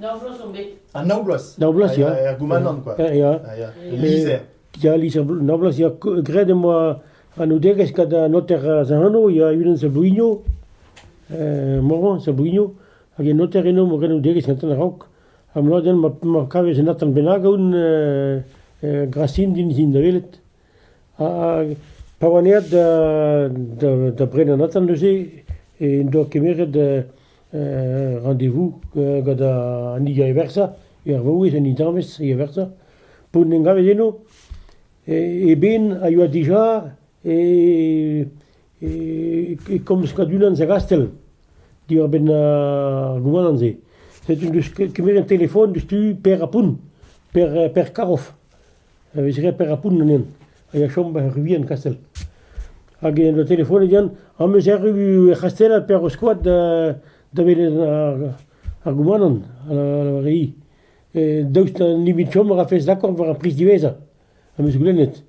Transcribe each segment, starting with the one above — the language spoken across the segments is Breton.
Nav bloaz on bet. Ah, nav bloaz Nav bloaz, Ah, ya. Er goumanant, quoi. Ya, ya. Ah, ya. El lizher. Ya, lizher, nav bloaz, ya. Graet em boa anaoudegezh gant an noter az anv, ya, unan Sablouigno, eh, Morvan Sablouigno, hag un noter eno mo anaoudegezh gantan a-raok. Ha mloadenn ma ma kavez un atant bennak aoun eh, eh, Gracine din zin da welet. Hag pa oan aet da Brennanatan neuze en doa kemeret randevou gant an hini a eversa, ar vaouez, an intañvez a eversa, p'on en gavet eno, e benn a yoa dija e komz Kadulan Segastel diwar-benn ar rouanant-se. Setu 'n deus kemeret an telefon diouzhtu Per Apun, Per Karoff. a vez graet per Apoun ganen, a ya chom er Ruy en Kastell. Hag en doa telefonet Yann, am eus erru er C'hastell per ho skoad da, da welet ar, ar goumanant, ar re i. E daoust ha nemet chom a rafes dakord war ar priz diwezhañ, am eus goulennet.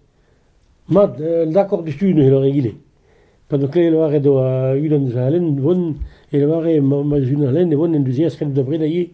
Mat, un dakord diouzhtu neuze, lâret egile. Pa d'o kleve lavaret oa unan eus al lenn vont, e lavare ma, ma eus unan lenn e vont en deus aes kaout da breda ivez.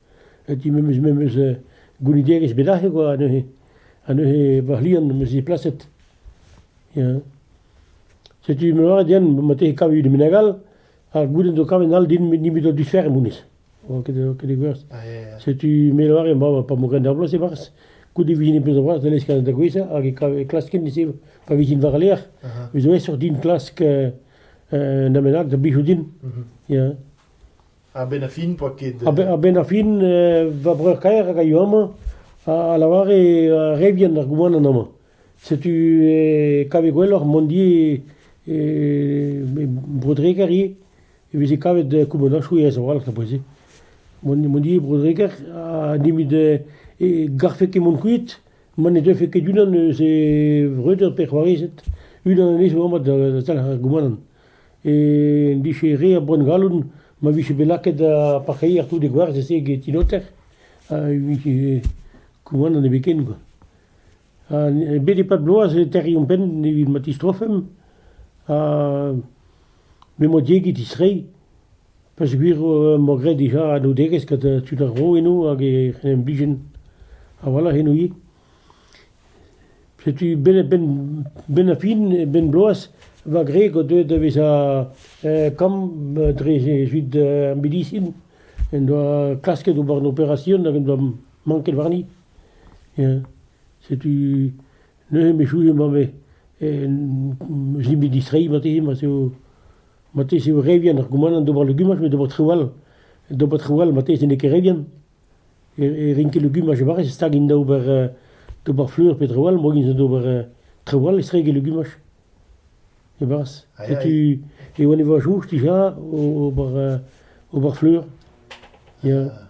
Edi memes memes goulidigezh bet aze kwa neuze ha neuze bac'h-liamm am eus ziplaset ya. Setu ma lâret din ma tefe kavet un meneg all ar gudenn zo kavet all din nemet o diferenn honnezh, oa ket oa ket gwerz. Setu me a lâre ma pa vo graet ar bloaz e-barzh goude e vijin pezh zo c'hoazh da leskañ da gwezhañ hag e kav- e klasken ise pa vijin war al lec'h vez aesoc'h din klask un amenad da blijo din ya. A-benn ar fin n'oa ket... A-benn ar fin va breur-kaer hag a yoa amañ a lavare re vihan ar goumanant amañ. Setu e kave gwelloc'h mont ivez e Bro-Dreger ivez, e veze kavet koumandañsoù aes a-walc'h da boell-se. Mont mont ivez e Bro-Dreger ha nemet e garfe ket mont kuit ma ne deufe ket unan eus e vreudeur pe c'hoarezed, unan anezho amañ da talc'h ar goumanant. en dije re a bronngalloud ma vije bet lakaet ar parkeier tout e gwerzh-se get ti noter ha e vije koumanant ebeken kwa. Ha bet e-pad bloaz e terriomp penn evit ma tistrofemp ha m'emañ diegi distreiñ peogwir emañ graet dija anaoudegezh gant tud ar vro eno hag e c'hen imbijen. Awalc'h eno ivez. Setu benn-ar-fin e benn-bloaz va gwreg o deus da vezañ kamm dre evit ar medisin en doa klasket ober an operasion hag en doa manket warni. Setu neuze echuet emañ bet distreiñ marteze, marteze eo re vihan ar goumanant d'ober legumaj met d'ober traoù all, d'ober traoù all marteze n'eo ket re vihan. e rin ket legumaj e Bariz, stag int da ober d'ober fleur pe traoù all, moa int d'ober traoù all estreg e legumaj e Bariz. Setu e oan e voaz houch dija ober ober fleur, ya.